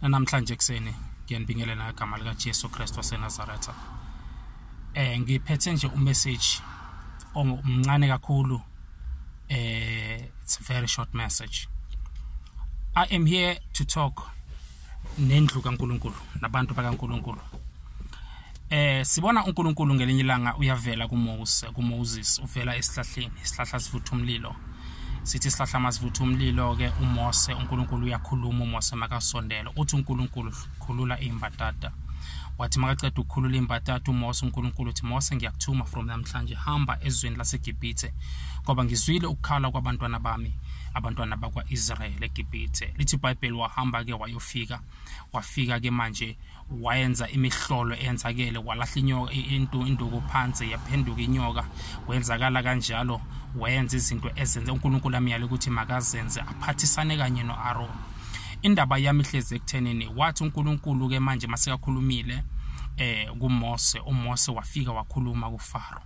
namhlanje ekuseni ngiyanibingelela ngegama likaJesu Kristu waseNazaretha eh ngiphethe nje umessage omncane kakhulu eh it's a very short message I am here to talk nendlu kaNkuluNkulu nabantu bakaNkuluNkulu eh sibona uNkulunkulu ngelinye ilanga uyavela kuMose kuMoses uvela esihlahleni isihlahla sivutha umlilo sithi isihlahla masivutha umlilo ke uMose uNkulunkulu uyakhuluma uMose makasondela uthi uNkulunkulu khulula imbadada wathi makaceda ukukhulula imbadada uMose uNkulunkulu uthi Mose ngiyakuthuma from namhlanje hamba ezweni laseGibhithe ngoba ngizwile ukukhala kwabantwana bami abantwana bakwa-israyeli egibhithe lithi ibhayibheli wahamba-ke wayofika wafika ke manje wayenza imihlolo eyenzakele walahla inyoka into induku phansi yaphenduka inyoka kwenzakala kanjalo wayenza izinto ezenze uNkulunkulu amyale ukuthi makazenze aphathisane kanye noAron indaba yami ihlezi ekuthenini wathi uNkulunkulu ke manje masekakhulumile eh kuMose uMose wafika wakhuluma kuFaro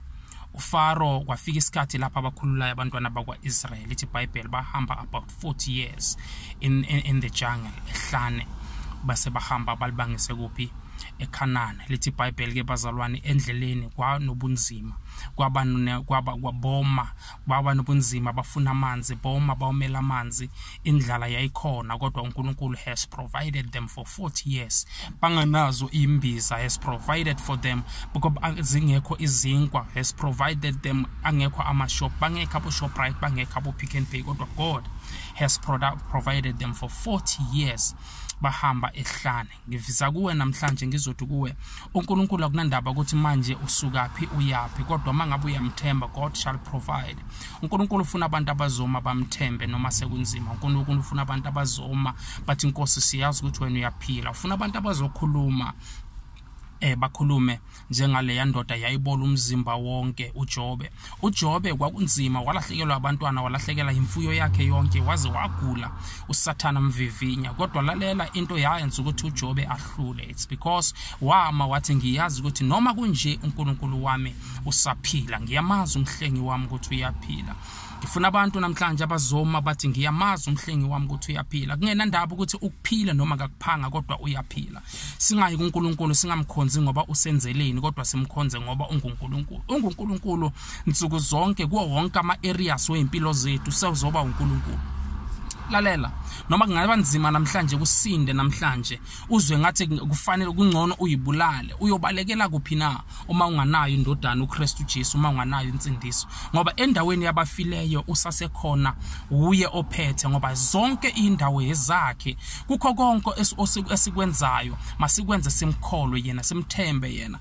uFaro kwafika isikhathi lapha abakhululayo abantwana bakwaIsrael ithi iBhayibheli bahamba about 40 years in, in, in the jungle ehlane base bahamba balibangise kuphi ekhanana lithi ibhayibheli ke bazalwane endleleni kwanobunzima kwaba kwaba kwaboma kwaba nobunzima bafuna amanzi boma bawumela amanzi indlala yayikhona kodwa uNkulunkulu has provided them for 40 years banganazo imbiza has provided for them because zingekho izinkwa has provided them angekho amashop bangekho aboShoprite bangekho aboPick n Pay kodwa God has product provided them for 40 years bahamba ehlane ngivisa kuwe namhlanje ngizothi kuwe uNkulunkulu akunandaba ukuthi manje usukaphi uyapi kodwa mangabe uyamthemba God shall provide unkulunkulu ufuna abantu abazoma bamthembe noma sekunzima unkulunkulu ufuna abantu abazoma bathi inkosi siyazi ukuthi wena uyaphila ufuna abantu abazokhuluma eh bakhulume njengaleya ndoda yayibola umzimba wonke uJobe uJobe kwakunzima walahlekelwa abantwana walahlekela imfuyo yakhe yonke waze wagula usathana mvivinya kodwa lalela into yayenza ukuthi uJobe ahlule it's because wama wathi ngiyazi ukuthi noma kunje uNkulunkulu wami usaphila ngiyamazi umhlengi wami ukuthi uyaphila ngifuna abantu namhlanje abazoma bathi ngiyamazi umhlengi wami ukuthi uyaphila kungenandaba ukuthi ukuphila noma kakuphanga kodwa uyaphila singayi kuNkulunkulu singamkhonzi ngoba usenzeleni kodwa simkhonze ngoba unguNkulunkulu unguNkulunkulu nsuku zonke kuwo wonke ama areas weimpilo zethu sewuzoba uNkulunkulu lalela noma kungaba nzima namhlanje kusinde namhlanje uzwe ngathi kufanele kungcono uyibulale uyobalekela kuphi na uma unganayo indodana uKristu Jesu uma unganayo insindiso ngoba endaweni yabafileyo usasekhona uye ophethe ngoba zonke indawo yezakhe kukho konke esikwenzayo masikwenze simkholwe yena simthembe yena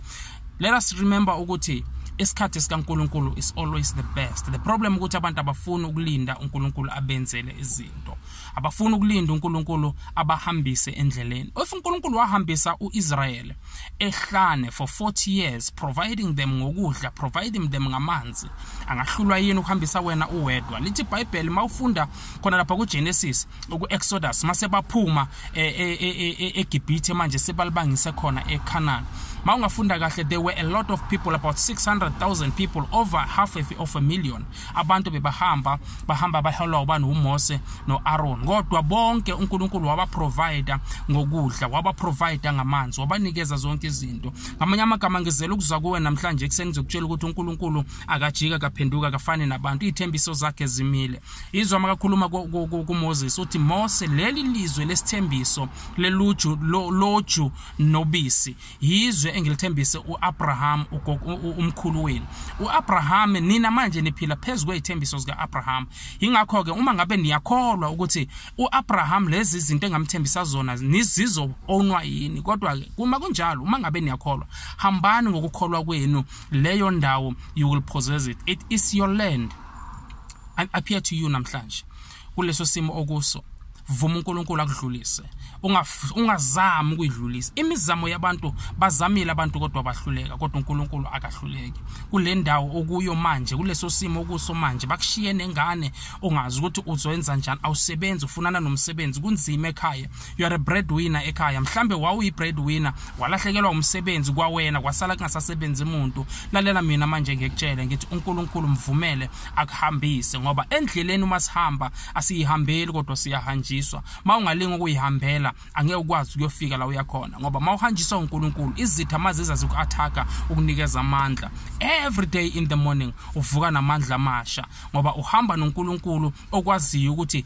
let us remember ukuthi isikhathi sikaNkuluNkulu is always the best the problem ukuthi abantu abafuni ukulinda uNkuluNkulu abenzele izinto abafuni ukulinda uNkulunkulu abahambise endleleni if uNkulunkulu wahambisa uIsrael ehlane for 40 years providing them ngokudla providing them ngamanzi angahlulwa yini ukuhambisa wena uwedwa lithi iBhayibheli mawufunda khona lapha kuGenesis ukuExodus mase baphuma e, e, e, eGibhithe manje sebalibangise khona eCanaan mawungafunda kahle there were a lot of people about 600,000 people over half of a million abantu bebahamba bahamba baholwa ubani uMose noAron kodwa bonke uNkulunkulu wabaprovider ngokudla wabaprovider ngamanzi wabanikeza zonke izinto ngamanye amagama ngizela ukuza kuwe namhlanje ekuseni ngizokutshela ukuthi uNkulunkulu akajika kaphenduka kafani nabantu ithembiso zakhe zimile izwa makakhuluma kuMoses uthi Mose leli lizwe lesithembiso leluju loju nobisi yizwe engilithembise uAbraham umkhulu wenu uAbraham nina manje niphila phezulu kwezithembiso zikaAbraham ingakho ke uma ngabe niyakholwa ukuthi uAbraham lezi izinto engamthembisa zona nizizo onwa yini kodwa ke uma kunjalo uma ngabe niyakholwa hambani ngokukholwa kwenu leyo ndawo you will possess it it is your land I appear to you namhlanje kuleso simo okuso vuma uNkulunkulu akudlulise ungazami ukuyidlulisa imizamo yabantu bazamile abantu kodwa bahluleka kodwa uNkulunkulu akahluleki kule ndawo okuyo manje kuleso simo okuso manje bakushiye nengane ungazi ukuthi uzoyenza njani awusebenzi ufunana nomsebenzi kunzima ekhaya you are a breadwinner ekhaya mhlambe wawuyi breadwinner walahlekelwa umsebenzi kwawena kwasala kungasasebenzi umuntu lalela mina manje ngikutshele ngithi uNkulunkulu mvumele akuhambise ngoba endleleni uma sihamba asiyihambeli kodwa siyahanjiswa uma ungalinga ukuyihambela angeke ukwazi ukuyofika la uyakhona ngoba uma uhanjiswa uNkulunkulu izitha maziza ziku-attack ukunikeza amandla every day in the morning uvuka namandla amasha ngoba uhamba noNkulunkulu okwaziyo ukuthi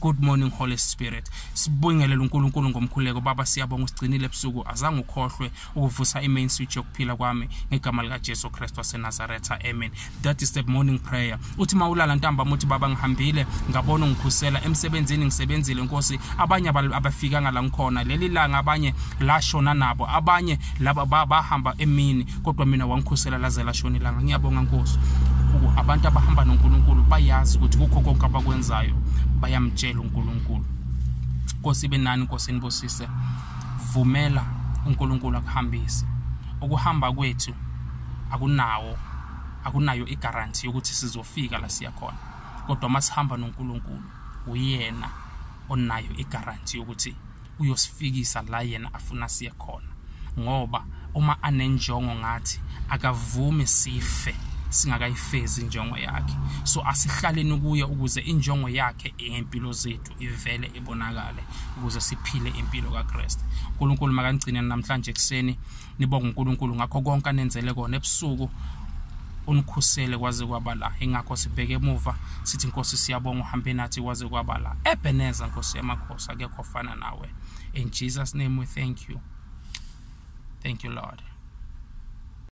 Good morning Holy Spirit. Sibungelela uNkulunkulu ngomkhuleko baba siyabonga usigcinile ebusuku azange ukhohlwe ukuvusa imain switch yokuphila kwami ngegama lika Jesu Kristu waseNazaretha. Amen. That is the morning prayer. Uthi mawulala ntamba muthi baba ngihambile ngabona ungikhusela emsebenzini ngisebenzile Nkosi abanye abafikanga la ngikhona leli langa abanye lashona nabo abanye laba bahamba emini kodwa mina wangikhusela laze lashona ilanga ngiyabonga nkosi abantu abahamba nonkulunkulu bayazi ukuthi kukho konke abakwenzayo bayamtshela unkulunkulu nkosi ibe nani nkosi enibusise vumela unkulunkulu akuhambise ukuhamba kwethu akunawo akunayo igaranti yokuthi sizofika la siya khona kodwa uma sihamba nonkulunkulu uyena onayo igaranti yokuthi uyosifikisa la yena afuna siye khona ngoba uma anenjongo ngathi akavumi sife singakayifezi injongo yakhe so asihlaleni kuye ukuze injongo yakhe eyempilo zethu ivele ibonakale ukuze siphile impilo kaKristu uNkulunkulu makanigcine namhlanje ekseni nibonga uNkulunkulu ngakho konke anenzele kona ebusuku unikhusele kwaze kwaba la ingakho sibheke emuva sithi inkosi siyabonga uhambe nathi kwaze kwaba la ebeneza nkosi yamakhosi akekho ofana nawe in jesus name we thank you thank you lord